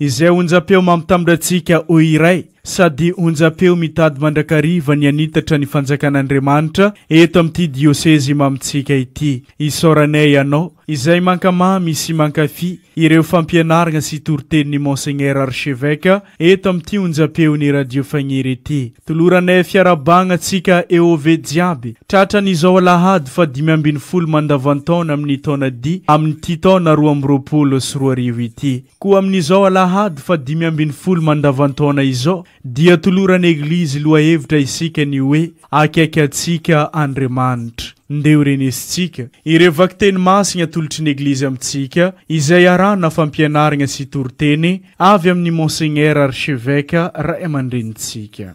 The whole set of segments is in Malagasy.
Izay onjam-peo mampitambra antsika ho iray, sady onjam-peo mitady mandrakariva ny hanitatra ny fanjakan'Andriamanitra eto amin'ity diosezy mamintsika ity. Isaoranay Ianao, Izay mankamamy sy mankafy ireo fampianarana sy toritenin'i Monseigneur Archevêque eto amin'ity onjam-peon'i Radio Fagniry ity. Toloranay fiarahabana antsika EOV jiaby, tratran'izao Alahady fahadimy ambin'ny folo mandavan-taona amin'ny taona D amin'ity taona roa amby roapolo sy roa arivo ity. Koa amin'izao alahady faha dimy ambin'ny folo mandavan-taona izao dia toloran'ny Eglizy lohahevitra isika ny hoe Akaiky antsika Andriamanitra. Ndeha ho renesintsika ireo vakiteny masina atolotry ny Eglizy amintsika izay arahana fampianaragna sy toriteny avy amin'ny Monseigneur Archeveque Ray aman-drenintsika.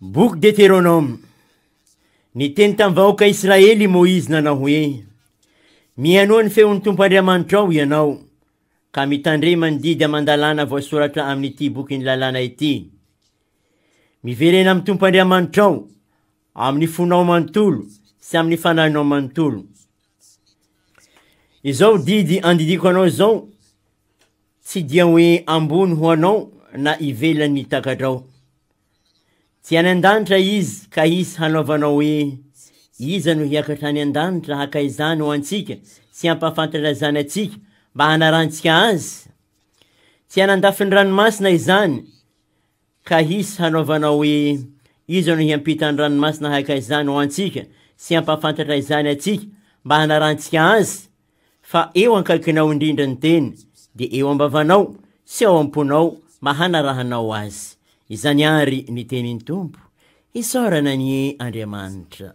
Boky Deteronoma Niteny tamin'ny vahoaka Israely i Moizy nanao hoe, Mihenoa ny feon'ny Tompo Andriamanitrao ianao, ka mitandrema ny didy aman-dalàna voasoratra amin'ity bokin'ny lalàna ity. Miverena amin'ny Tompo Andriamanitrao amin'ny fonao manontolo sy amin'ny fanahinao manontolo. Izao didy andidiako anao izao, tsy dia hoe ambony ho anao na ivelan'ny takadrao. Tsy any an-danitra izy ka hisy hanaovanao hoe iza no hiakatra any an-danitra haka izany ho antsika sy hampahafantatra izany antsika mba hanarantsika azy? Tsy any an-dafin'ny ranomasina izany Ka hisy hanaovanao hoe, Iza no hiampita ny ranomasina haka izany ho antsika sy hampahafantatra izany antsika mba hanarantsika azy? Fa eo ankaikinao indrindra ny teny, dia eo am-bavanao sy ao am-ponao mba hanarahanao azy. Izany àry ny tenin'ny Tompo, isaorana anie Andriamanitra.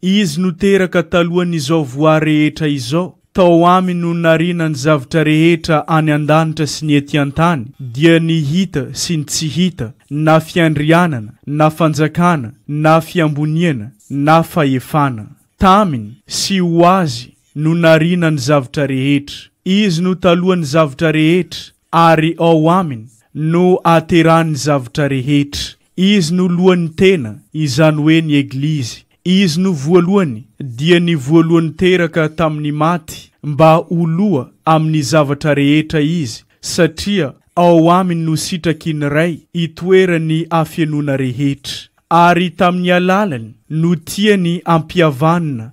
Izy no teraka talohan'izao voary rehetra izao, tao Aminy no nariana ny zavtra rehetra any an-danitra sy ny ety an-tany, dia ny hita sy ny tsy hita, na fiandrianana, na fanjakana, na fiamboniana, na fahefana. Taminy, sy ho Azy, no nariana ny zavtra rehetra. Izy no talohan'ny zavtra rehetra, ary ao Aminy no ahaterahan'ny zavtra rehetra. Izy no lohan'ny tena, izany hoe ny Eglizy. Izy no voalohany, dia ny voalohany teraka tamin'ny maty, mba ho loha amin'ny zavatra rehetra Izy, satria ao Aminy no sitraky ny Ray itoeran'ny hafenoana rehetra. Ary tamin'ny alalany no tiany hampihavanina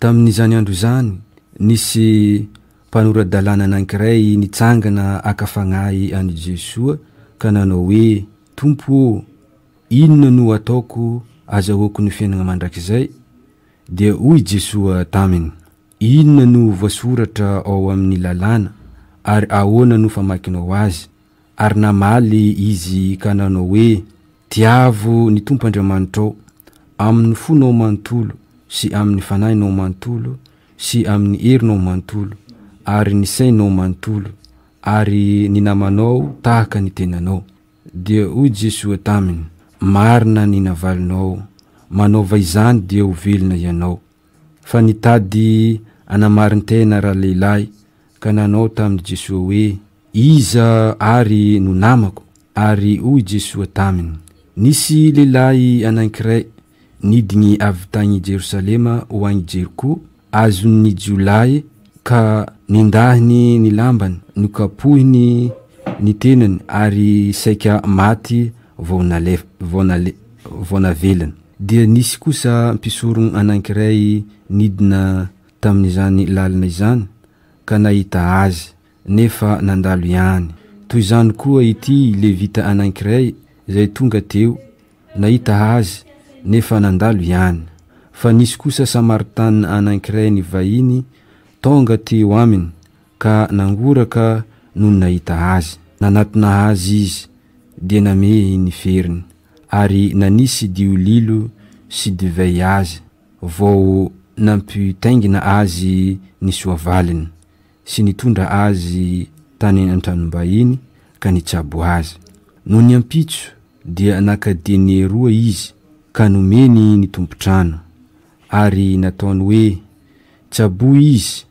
Tamin'izany andro izany, nisy mpanora-dalàna anankiray nitsangana haka fagnahy an'i Jesoa ka nanao hoe, Tompo ô, inona no ataoko azahoako ny fiainagna mandrakizay? Dia hoy Jesoa taminy, Inona no voasoratra ao amin'ny lalàna, ary ahoana no famakinao azy? Ary namaly izy ka nanao hoe, Tiavo ny Tompo Andriamanitrao, amin' ny fonao manontolo, sy amin' ny fanahinao manontolo, sy amin' ny herinao manontolo, ary ny sainao manontolo, ary ny namanao tahaka ny tenanao. Dia hoy Jesoa taminy, Marina ny navalinao, manaova izany dia ho velona ianao. Fa nitady hanamarin-tena ralehilahy ka nanao tamin'i Jesoa hoe, Iza àry no namako? Ary hoy i Jesoa taminy, Nisy lehilahy anankiray nidiny avy tagny Jerosalema ho agny Jeriko, azon'ny jiolahy, ka nendahiny ny lambany, nokapohiny ny tenany, ary saika maty vao nalefany, vao navelany. dia nisy kosa mpisorogn anankiray nidina tamin'izany lalina izany ka nahita Azy, nefa nandalo ihany. Toy izany koa ity Levita anankiray izay tonga teo, nahita Azy, nefa nandalo ihany. Fa nisy kosa Samaritana anankiray nivahiny tonga teo Aminy ka nangoraka nony nahita Azy. Nanatona Azy izy, dia namehy ny feriny. ary nanisy diolilo sy divay azy vao nampitaingina azy ny soavaliny sy nitondra azy tany an-tranom-bahiny ka nitsabo azy. Nony ampitso dia naka dene roa izy ka nomeny ny tompon-trano ary nataony hoe, Tsaboy izy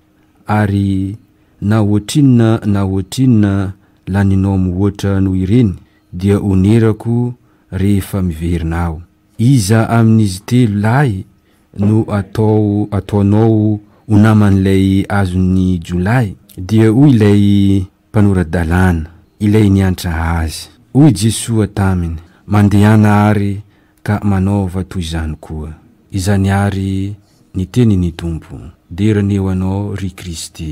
Ary na ohatrinona na ohatrinona laninao mihoatra noho ireny, dia honerako rehefa miverina aho. Iza amin'izy telo lahy no atao ataonao ho naman'ilay azon'ny jiolahy? Dia hoy ilay mpanora-dalàna, ilay niantra Azy. Hoy Jesoa taminy, Mandehana àry ka manaova toy izany koa. Izany àry ny tenin'ny Tompo. Dera ny eo anao, ry Kristy.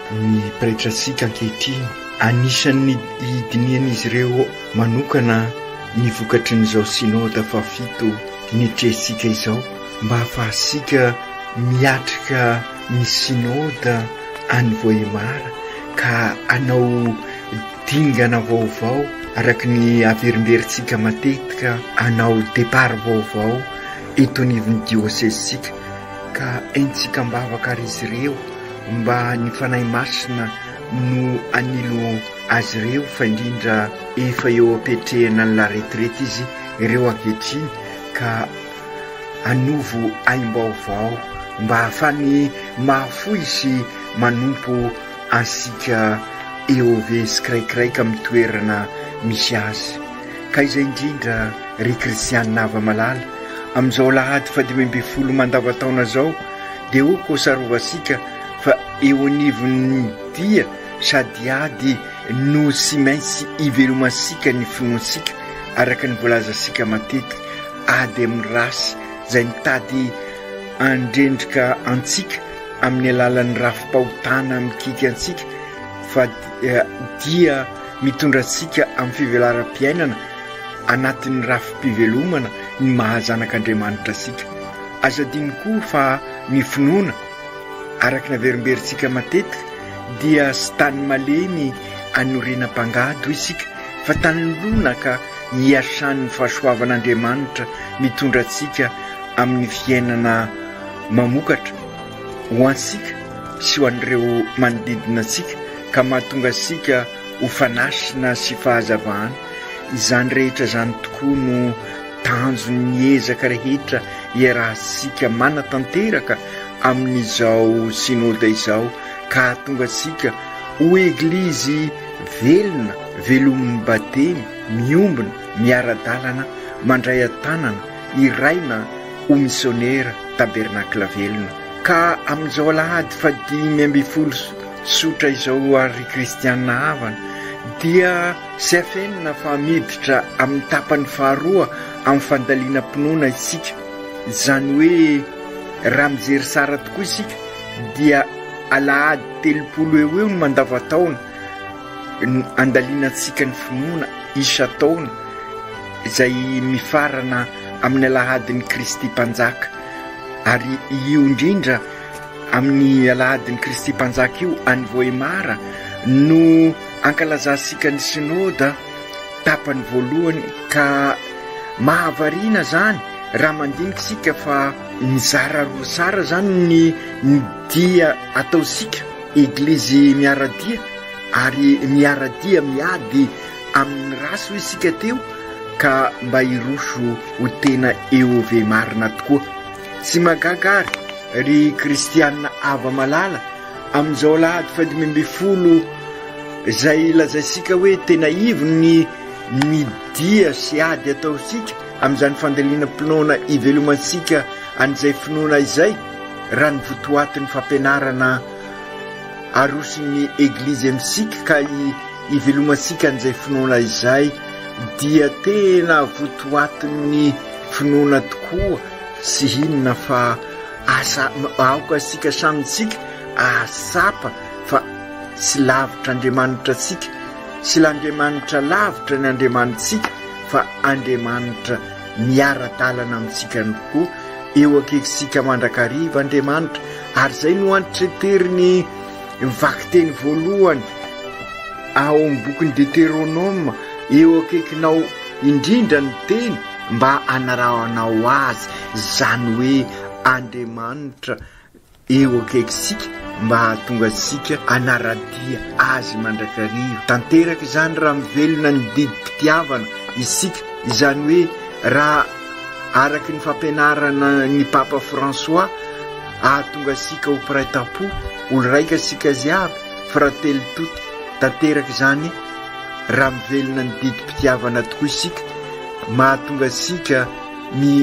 Ny pretratsika ankehitriny, anisan'ny hidinihan'izy ireo manokana ny vokatry ny izao Synode fahafito nitrehintsika izao mba hahafahantsika miatrika ny Synode any Vohemar ka hanao dingana vaovao araka ny haverimberintsika matetika hanao départ vaovao eto anivon'ny diosezintsika. Ka entsika am-bavaka ary izy ireo, mba ny Fanahy Masina no hanilo azy ireo, fa indrindra efa eo am-piatrehana ny la retraite izy ireo ankehitriny, ka hanovo aim-baovao, mba hahafany mahafoy sy manompo antsika EOV tsiraikiraika amin'ny toerana misy azy. Ka izay indrindra ry Kristianina hava malala, amin'izao alahady fahadimy ambin'ny folo mandavan-taona izao dia ho kosarovantsika fa eo anivon'ny dia sady ady no tsy maintsy ivelomantsika ny finoantsika araka ny voalazantsika matetika, ady amin'ny ratsy izay mitady handrendrika antsika amin'ny alalan'ny rafi-pahotana mikiky antsika fa dia Mitondra antsika amin'ny fivelaram-piainana anatin'ny rafi-pivelomana ny maha zanak'Andriamanitra antsika. Aza adino koa fa ny finoana, araka ny averimberintsika matetika, dia tsy tany malemy anorenam-pangady-hoy isika, fa tany lonaka iasan'ny fahasoavan'Andriamanitra mitondra antsika amin'ny fiainana mamokatra, ho antsika sy ho an'ireo manodidina antsika ka mahatonga antsika ho fanasina sy fahazavana, izany rehetra izany tokoa no tanjon'ny ezaka rehetra iarahantsika manatanteraka amin'izao Synoda izao ka hahatonga antsika ho Eglizy velona, velomin'ny Batemy, miombona, miara-dalana, mandray an-tanana, hiraina ho misionera, Tabernacle velona. Ka amin'izao alahady fahadimy ambin'ny folo Tsotra izao ary ry kristiana havana dia tsy afenina fa miditra amin'ny tapany faharoa amin'ny fandalinam-pinoana isika. Izany hoe raha mijery tsara tokoa isika dia alahady telopolo eo eo ny mandavan-taona no andalinantsika ny finoana isan-taona izay mifarana amin'ny alahadin'i Kristy Mpanjaka ary io indrindra Amin'ny Alahadin'i Kristy Mpanjaka io any Vohemar no ankalazantsika ny Synoda tapany voalohany ka mahavariana izany raha mandinika isika fa mizara roa tsara izany ny ny dia ataontsika Eglizy miara-dia ary miara-dia miady amin'ny ratsy hoy isika teo ka mba hiroso ho tena eovemarina tokoa. Tsy mahagaga ary ry kristianina hava malala amin'izao alahady fahadimy ambin'ny folo izay lazaintsika hoe tena ivon'ny ny dia sy ady ataontsika amin'izany fandalinam-pinoana ivelomantsika an'izay finoana izay raha ny votoatin'ny fampianarana aroson'ny eglizy amintsika ka ivelomantsika an'izay finoana izay dia tena votoatin'ny finoana tokoa Tsy inona fa asa aoka isika samy tsika ahatsapa fa tsy lavitra Andriamanitra antsika, tsy l'Andriamanitra lavitra ny Andriamanitsika fa Andriamanitra miara-dalana amintsika ihany koa, eo akaikintsika mandrakariva Andriamanitra ary izay no antitranterin'ny vakiteny voalohany ao amin'ny bokin'i Deteronoma, eo akaikinao indrindra ny teny. Mba hanarahanao azy, izany hoe Andriamanitra eo akaikintsika mba hahatonga antsika hanara-dia Azy mandrakariva. Tanteraka izany raha mivelona ny didim-pitiavana isika, izany hoe raha, araka ny fampianarana ny Papa François, hahatonga antsika ho mpiray tam-po, olon-raika isika jiaby, fratelli tutti. Tanteraka izany raha mivelona ny didim-pitiavana tokoa isika. Mahatonga antsika mi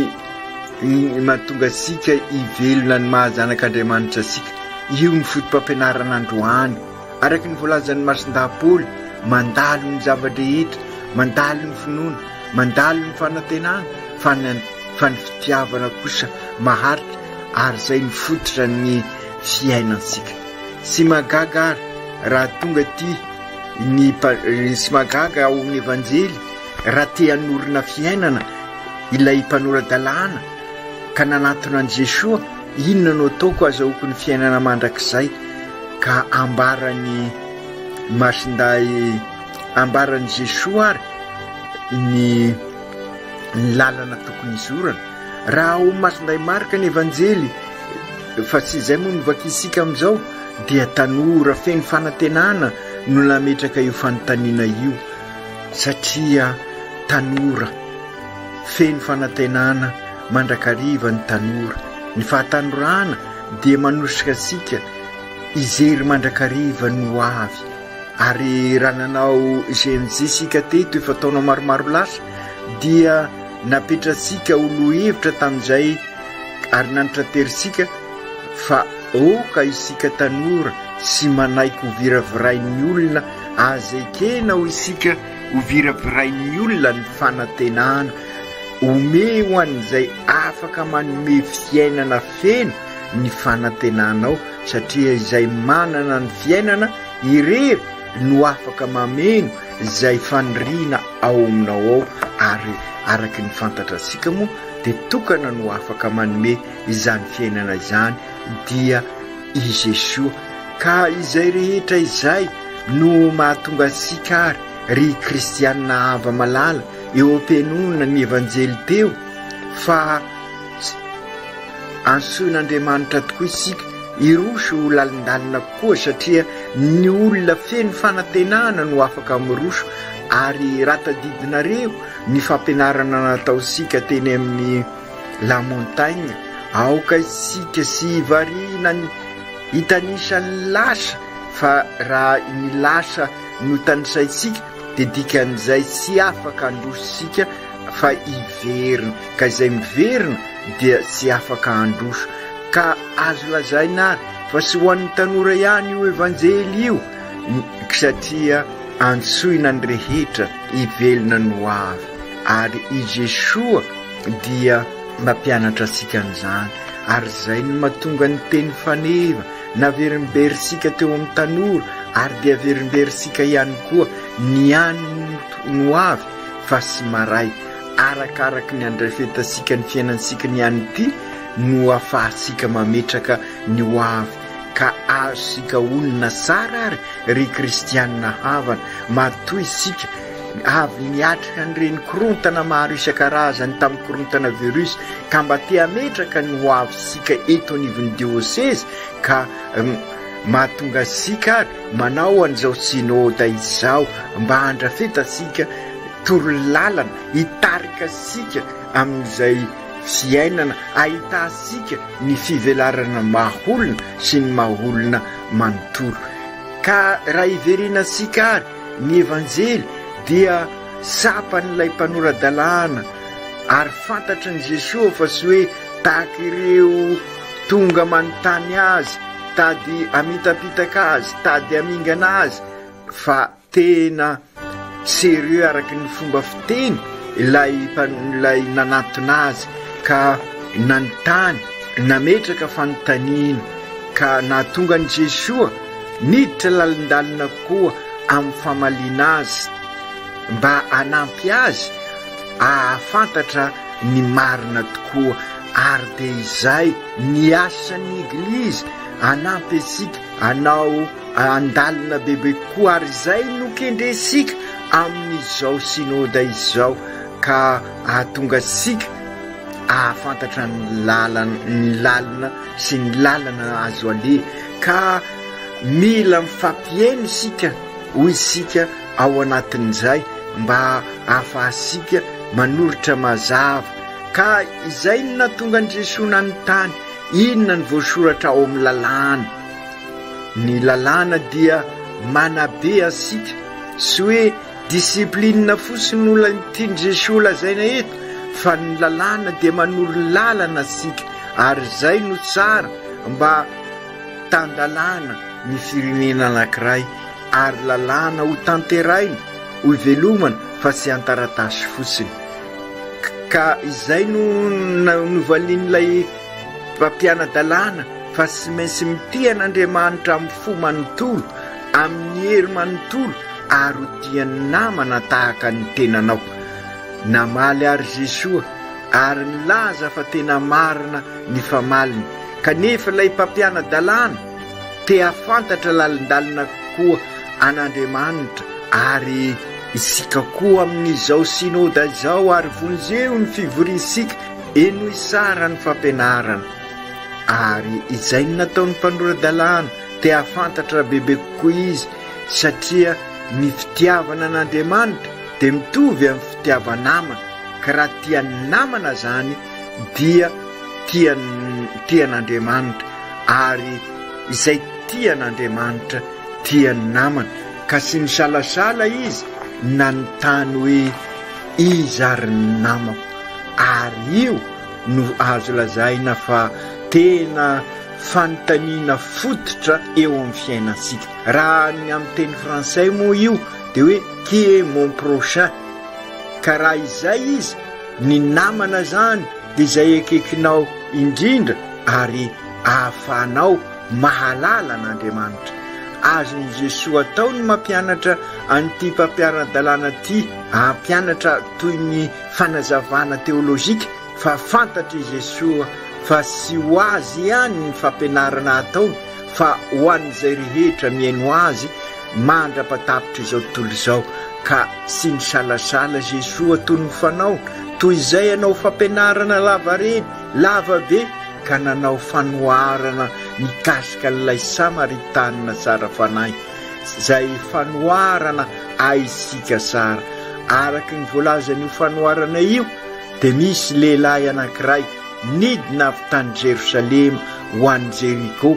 mahatonga antsika hivelona ny maha zanak'Andriamanitra antsika. Io ny fotopampianarana androany. Araka ny voalazan'ny Masindahy Paoly, mandalo ny zava-drehetra, mandalo ny finoana, mandalo ny fanantenana, fa ny fa ny fitiavana kosa maharitra ary izay ny fototra ny fiainantsika. Tsy mahagaga ary raha tonga aty ny sy mahagaga ao amin'ny Evanjely Raha te hanorina fiainana ilay mpanora-dalàna ka nanatona an'i Jesoa, Inona no ataoko hahazahoako ny fiainana mandrakizay? ka ambaran'i Masindahy ambaran'i Jesoa ary ny ny lalana tokony hizorana. Raha ao amin'i Masindahy Marka ny Evanjely, fa tsy izay moa no vakiantsika amin'izao, dia tanora feno fanantenana no nametraka io fanontaniana io. satria tanora, feno fanantenana mandrakariva ny tanora, ny fahatanorana dia manosika antsika hijery mandrakariva ny ho avy ary raha nanao GMJ isika teto efa taona maromaro lasa dia napetratsika ho lohevitra tamin'izay ary nanitraterintsika fa aoka isika tanora sy manaiky ho viravirain'ny olona Aza ekena hoy isika hoviravirain'ny olona ny fanantenana. Omey ho an'izay afaka manome fiainana feno ny fanantenanao, satria izay manana ny fiainana irery no afaka mameno izay faniriana ao aminao ao, ary araka ny fantatra antsika moa dia tokana no afaka manome izany fiainana izany dia I Jesoa, ka izay rehetra izay no mahatonga antsika ary ry kristianina hava malala eo am-pihainoana ny Evanjely teo fa antsoin'Andriamanitra tokoa isika hiroso ho lalindalina kokoa satria ny olona feno fanantenana no afaka miroso ary raha tadidinareo ny fampianarana nataontsika teny amin'ny La Montagne, Aoka isika sy i Variana ny hitanisa ny lasa fa raha ny lasa no tanisaintsika dia dikan'izay tsy afaka handroso isika fa hiverina, ka izay miverina dia tsy afaka handroso. Ka azo lazaina ary fa tsy ho an'ny tanora ihany io Evanjely io satria antsoina ny rehetra hivelona ny hoavy ary i Jesoa dia mampianatra antsika an'izany ary izay no mahatonga ny teny faneva naverimberintsika teo amin'ny tanora ary dia averimberintsika ihany koa ny any no avy fa sy maray arakaraky ny andrafetantsika ny fiainantsika ny any ity no afahantsika mametraka ny ho avy ka azontsika onina tsara ary ry kristianina havana matoa isika Avy niatrika ny renin-korontana maro isan-karazany tamin'ny korontana virus ka mba te hametraka ny ho avintsika eto anivon'ny diosezy ka mahatonga antsika ary manao an'izao synoda izao mba handrafetantsika torolalana hitarika antsika amin'izay fiainana ahitantsika ny fivelarana maha-olona sy ny maha-olona manontolo ka raha hiverenantsika ary Ny Evanjely dia tsapan'ilay mpanora-dalàna ary fantatry ny Jesoa fa tsy hoe tahaka ireo tonga manontany Azy, tady hamitapitaka Azy, tady hamingana Azy, fa tena sérieux araka ny fomba fiteny ilay ilay nanatona Azy ka nanontany, nametraka fanontaniana ka nahatonga an'i Jesoa Niditra lalindalina koa amin'ny famaliana azy mba hanampy azy hahafantatra ny marina tokoa ary dia izay ny asan'ny Eglizy hanampy antsika hanao handalina bebe kokoa ary izay no kendrentsika amin'izao Synoda izao ka hahatonga antsika hahafantatra ny lalana ny lalina sy ny lalana azo aleha ka mila mifampiheno isika hoy isika ao anatin'izay mba ahafahantsika manoritra mazava ka izay no nahatonga an'i Jesoa nanontany inona ny voasoratra ao amin'ny lalàna. Ny lalàna dia manabe antsika sy hoe Discipline fotsiny no lany tian'i Jesoa ho lazaina eto fa ny lalàna dia manoro lalana antsika ary izay no tsara mba tan-dalàna ny firenena anankiray ary lalàna ho tanteraina, ho velomana fa tsy an-taratasy fotsiny. Ka izay no novalian'ilay mpampiana-dalàna fa tsy maintsy mitia an'Andriamanitra amin'ny fo manontolo, Amin'ny hery manontolo ary ho tia ny namana tahaka ny tenanao. Namaly àry Jesoa ary nilaza fa tena marina ny famaliny, kanefa ilay mpampiana-dalàna te hahafantatra lalindalina kokoa an'Andriamanitra ary isika koa amin'izao Synoda izao ary vonjeo ny fivoriantsika henoy tsara ny fampianarana ary izay ny nataon'ny mpanora-dalàna Te hahafantatra bebe kokoa izy satria ny fitiavana an'Andriamanitra dia mitovy amin'ny fitiava-namana, ka raha tia ny namana izany dia tia tia an'Andriamanitra, ary izay tia an'Andriamanitra tia ny namana. Ka tsy nisalasala izy nanontany hoe, Iza ary ny namako? Ary io no azo lazaina fa tena fanontaniana fototra eo amin'ny fiainantsika. Raha ny amin'ny teny frantsay moa io dia hoe qui est mon prochain? Ka raha izay izy, ny namana izany dia izay akaikinao indrindra ary ahafahanao mahalala an'Andriamanitra. Azon'i Jesoa atao ny mampianatra an'ity mpampiara-dalàna ity hampianatra toy ny fanazavana teolojika. fa fantatr' i Jesoa fa tsy ho Azy ihany ny fampianarana ataony fa ho an' izay rehetra mihaino Azy mandra-patapitr' izao tontolo izao, ka tsy nisalasala Jesoa toy ny fanao toy izay hanao fampianarana lavareny lava be ka nanao fanoharana mikasika an' ilay Samaritanina tsara fanahy, izay fanoharana ahisintsika tsara, araka ny voalazan' io fanoharana io. Dia misy lehilahy anankiray nidina avy tany Jerosalema ho any Jeriko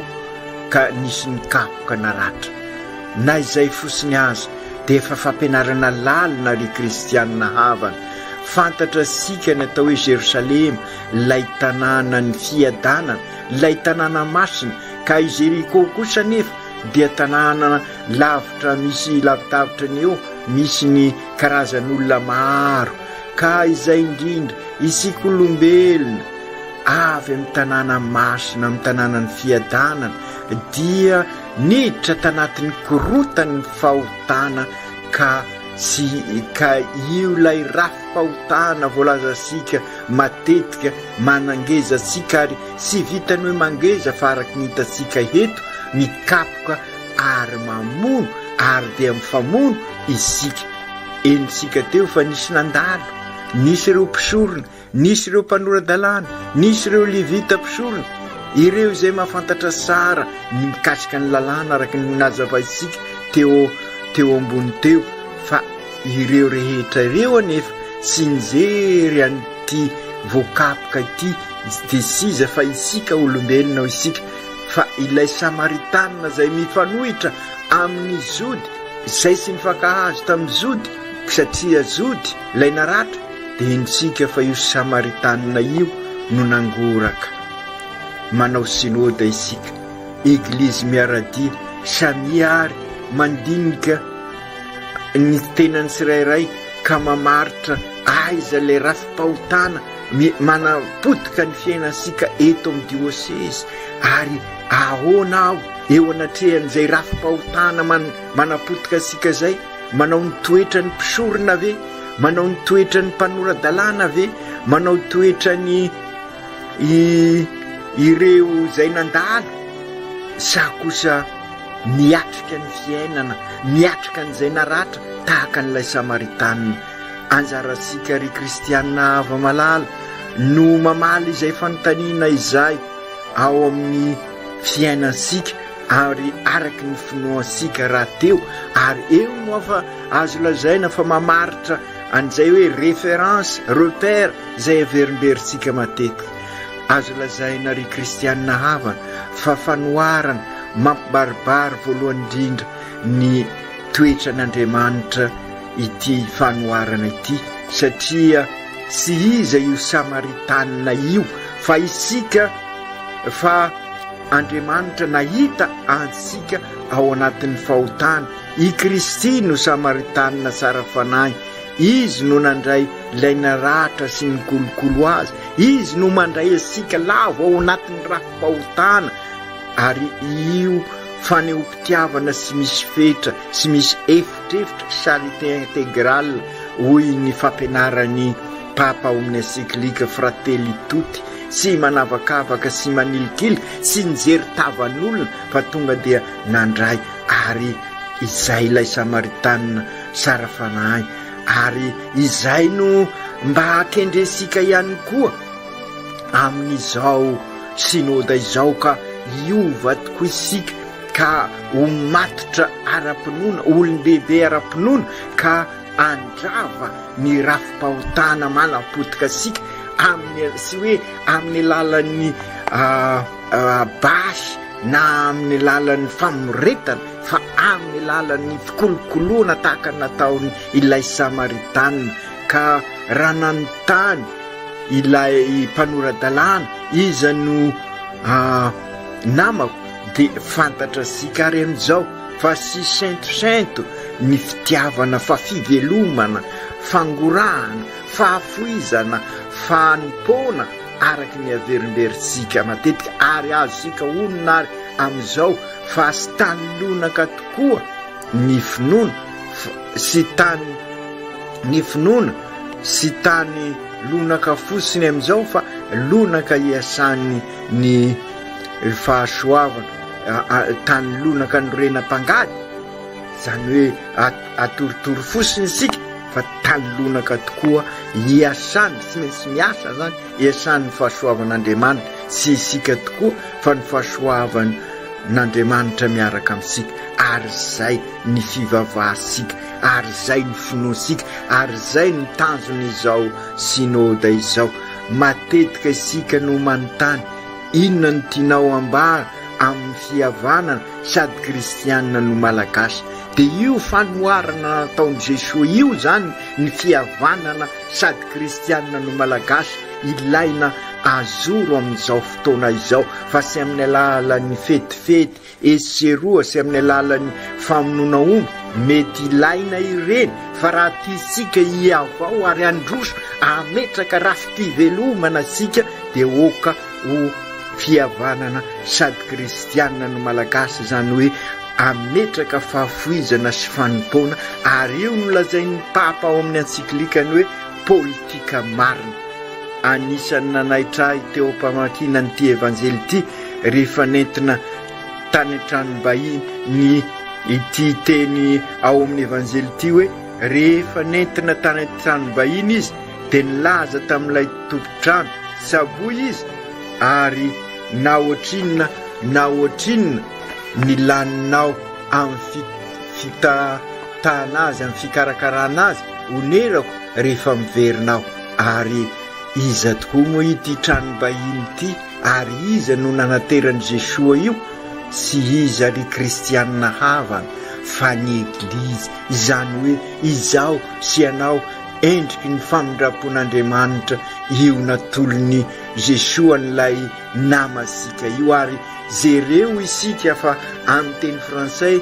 ka nisy nikapoka naratra. Na izay fotsiny aza dia efa fampianarana lalina ry kristianina havana. Fantatra isika ny atao hoe Jerosalema, ilay tanànan'ny fiadanana, ilay tanàna masina, ka i Jeriko kosa anefa dia tanàna lavitra misy lavidavitra ny eo misy ny karazan'olona maro. Ka izay indrindra, isika olombelona avy amin'ny tanàna masina, amin'ny tanànan'ny fiadanana, dia niditra tanatin'ny korotan'ny fahotana ka tsy ka io ilay rafi-pahotana voalazantsika matetika manangeza antsika ary tsy vitan'ny hoe mangeza fa araka ny hitantsika eto mikapoka ary mamono ary dia mifamono isika Henontsika teo fa nisy nandalo, nisy ireo mpisorona, nisy ireo mpanora-dalàna, nisy ireo Levita mpisorona, ireo izay mahafantatra tsara ny mikasika ny Lalàna araka ny nazavaintsika teo teo ambony teo, fa ireo rehetra ireo anefa tsy nijery an'ity voakapoka ity dia tsy iza fa isika olombelona ao isika, fa ilay Samaritanina izay mifanohitra amin'ny Jody, Izay tsy nifankahazo tamin'ny Jody, satria Jody ilay naratra, dia henontsika fa io Samaritanina io no nangoraka. Manao Synoda isika, Eglizy miara-dia, samia ary mandinika ny tenany tsirairay ka mamaritra aiza ilay rafi-pahotana manapotika ny fiainantsika eto amin'ny diosezy ary Ahoana aho eo anatrehan'izay rafi-pahotana manapotika antsika izay? Manao ny toetran'ny mpisorona ve? Manao ny toetran'ny mpanora-dalàna ve? Manao toetra ny ireo izay nandalo? Sa kosa miatrika ny fiainana, miatrika an'izay naratra tahaka an'ilay Samaritanina? Anjarantsika ry kristiana hava-malala no mamaly izay fanontaniana izay. ao amin'ny fiainantsika ary araky ny finoantsika rahateo ary eo no afa azo lazaina fa mamaritra an'izay hoe référence repère izay averimberintsika matetika azo lazaina ry kristianina havana fa fanoharana mampibaribary voalohany indrindra ny toetran'Andriamanitra ity fanoharana ity satria tsy iza io Samaritanina io fa isika fa Andriamanitra nahita antsika ao anatin'ny fahotana. I Kristy no Samaritanina tsara fanahy. Izy no nandray ilay naratra sy ny kolokolo azy. Izy no mandray antsika lavo ao anatin'ny rafi-pahotana ary io fanehoam-pitiavana sy misy fetra sy misy efa Drift charité intégrale hoy ny fampianaran'ny Papa ao amin'ny encyclique Fratelli Tutti, tsy manavakavaka sy manilikily, tsy nijery tavan'olona fa tonga dia nandray ary izay ilay Samaritanina sara fanahy ary izay no mba akendrentsika ihany koa amin'izao Synoda izao ka hiova tokoa isika ka ho matotra ara-pinoana, ho olon-dehibe ara-pinoana, ka handrava ny rafi-pahotana manam-potoka antsika amin'ny, tsy hoe amin'ny alalan'ny basy na amin'ny alalan'ny famoretana fa amin'ny alalan'ny fikolokoloana tahaka ny nataony ilay Samaritanina. Ka raha nanontany ilay mpanora-dalàna, iza no namako? De fantatra sika ary amizao fa sy sentosento ny fitiavana fa fivelomana, fangorahana, fahafoizana, fanompoana araky ny averimberitsika matetika ary azosika onona ary amizao fa sy tany lonaka tokoa ny finoana fa sy tany ny finoana sy tany lonaka fosiny amizao fa lonaka iasany ny fahasoavana tany lonaka norena mpangady zany hoe atorotoro fosiny isika fa tany lonaka tokoa hiasany tsy maintsy miasa zany hiasany ny fahasoavan'Andriamanitra sy isika tokoa fa ny fahasoavana n'Andriamanitra miaraka amintsika ary izay ny fivavahantsika ary izay ny finoantsika ary izay ny tanjon'izao synode izao Matetika isika no manontany, Inona no tianao ambara amin'ny fihavanana sady kristianina no malagasy? Dia io fanoharana nataon'i Jesoa io izany ny fihavanana sady kristianina no malagasy ilaina azoro amin'izao fotoana izao fa tsy amin'ny alalan'ny fetifety Etsy sy eroa sy amin'ny alalan'ny famonoana omby, mety ilaina ireny, fa raha tiantsika hihavao ary handroso, hametraka rafi-pivelomana isika, dia oka ho fihavanana sady kristianina ny Malagasy, izany hoe hametraka fahafoizana sy fanompoana, ary io no lazain'ny Papa ao amin'ny Encyclique-ny hoe, politika marina. Anisan'ny nanaitra ahy teo am-pamakiana an'ity Evanjely ity rehefa nentina tany an-tranom-bahiny ity teny ao amin'ny Evanjely ity hoe rehefa nentina tany an-tranom-bahiny izy dia nilaza tamin'ilay tompon-trano tsaboy izy ary na ohatrinona na ohatrinona ny laninao amin'ny fitahtahana azy, amin'ny fikarakarana azy. Onerako rehefa miverina aho. Ary iza tokoa moa ity tranom-bahiny ity? Ary iza no nanateran'i Jesoa io? Tsy iza ry kristianina havana fa ny Eglizy, izany hoe izaho sy ianao, endriky ny famindram-pon'Andriamanitra io natolon'i Jesoa an'ilay namasika io. Ary jereo isika fa amin'ny teny frantsay,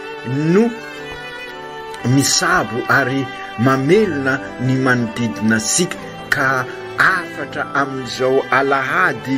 no misabo ary mamelona ny manodidina antsika ka hafatra amin'izao alahady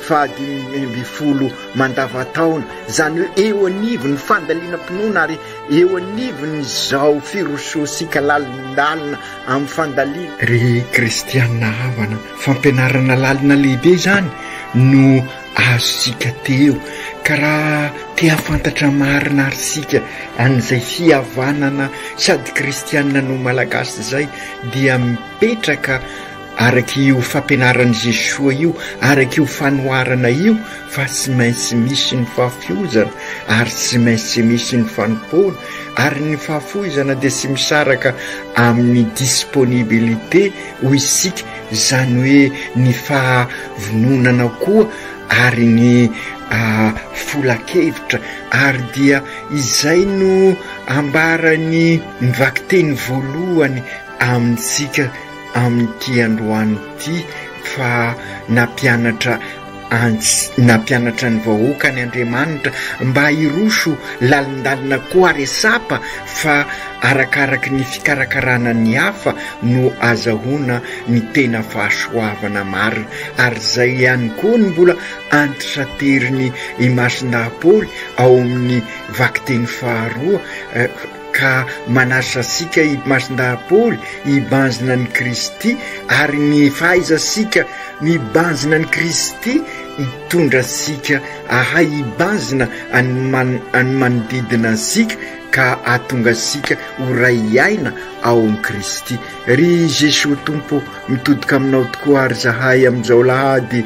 fahadimy ambin'ny folo mandavantaona, izany hoe eo anivon'ny fandalinam-pinoana ary eo anivon'izao firosoantsika lalindalina amin'ny fandaliana. Ry kristiana havana, fampianarana lalina lehibe izany no azontsika teo, ka raha te hahafantatra marina ary isika an'izay fihavanana sady kristiana no Malagasy izay dia mipetraka araka io fampianaran'i Jesoa io, araka io fanoharana io fa tsy maintsy misy ny fahafiozana ary tsy maintsy misy ny fanompoana ary ny fahafoizana dia tsy misaraka amin'ny disponibilité hoy isika, izany hoe ny fahavononana koa ary ny folan-kevitra, ary dia izay no ambaran'ny vakiteny voalohany amintsika amin'ity androany ity fa nampianatra Antsy nampianatra ny vahoakany Andriamanitra mba hiroso lalindalina koa ary sapa fa arakaraky ny fikarakarana ny hafa no azahoana ny tena fahasoavana marina. Ary izay ihany koa no mbola antitrateriny i Masinaha Paoly ao amin'ny vakiteny faharoa. ka manaritra antsika i Masindahy-Paoly hibanjina an'i Kristy, ary ny fahaizantsika mibanjina an'i Kristy hitondra antsika hahay hibanjina an'ny manodidina antsika ka hahatonga antsika ho ray aina ao amin'i Kristy. Ry Jesoa Tompo, mitodoka aminao tokoa ary zahay amin'izao alahady,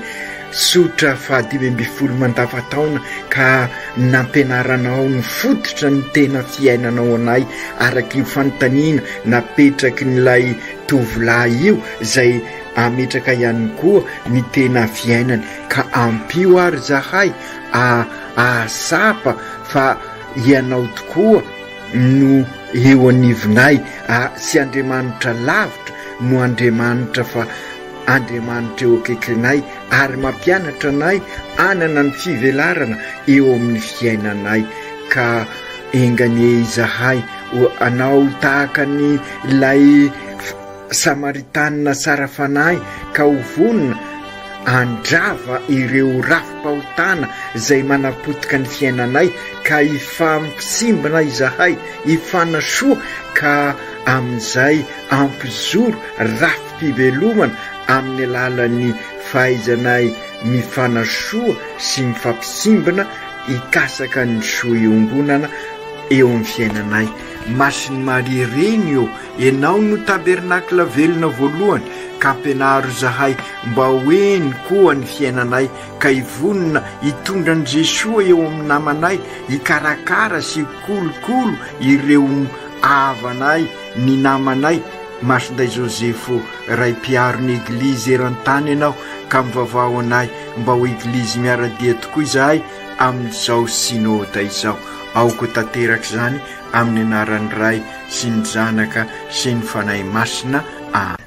Tsotra fahadimy ambin'ny folo mandavataona ka nampianaranao ny fototra ny tena fiainanao anay araka io fanontaniana napetrakin'ilay tovolahy io izay ametraka ihany koa ny tena fiainany ka ampio ary zahay ahatsapa fa ianao tokoa no eo anivonay sy Andriamanitra lavitra no Andriamanitra fa Andriamanitra eo akaikrinay ary mampianatra anay hanana ny fivelarana eo amin'ny fiainanay ka enga anie izahay ho anao tahaka ny ilay Samaritanina tsara fanahy ka ho vonona handrava ireo rafi-pahotana izay manapotika ny fiainanay ka hifampitsimbina izahay hifanasoa ka amin'izay hampizoro rafi fivelomana amin'ny alalan'ny fahaizanay mifanasoa sy mifampisimbina hikasaka ny soa iongonana eo amin'ny fiainanay. Masin'i Maria Reny ô, Ianao no tabernakla velona voalohany, ka ampianaro izahay mba ho heno koa ny fiainanay ka hivonona hitondra an'i Jesoa eo amin'ny namanay, hikarakara sy hikolokolo ireo havanay. ny namanay Masinday Josepho Ray Mpiaro ny Eglizy eran-tany ianao ka mivavaho anay mba ho Eglizy miara-dia tokoa izahay amin'izao Synode izao. Aoka ho tanteraka izany amin'ny anaran'ny Ray sy ny Zanaka sy ny Fanahy Masina. Amena.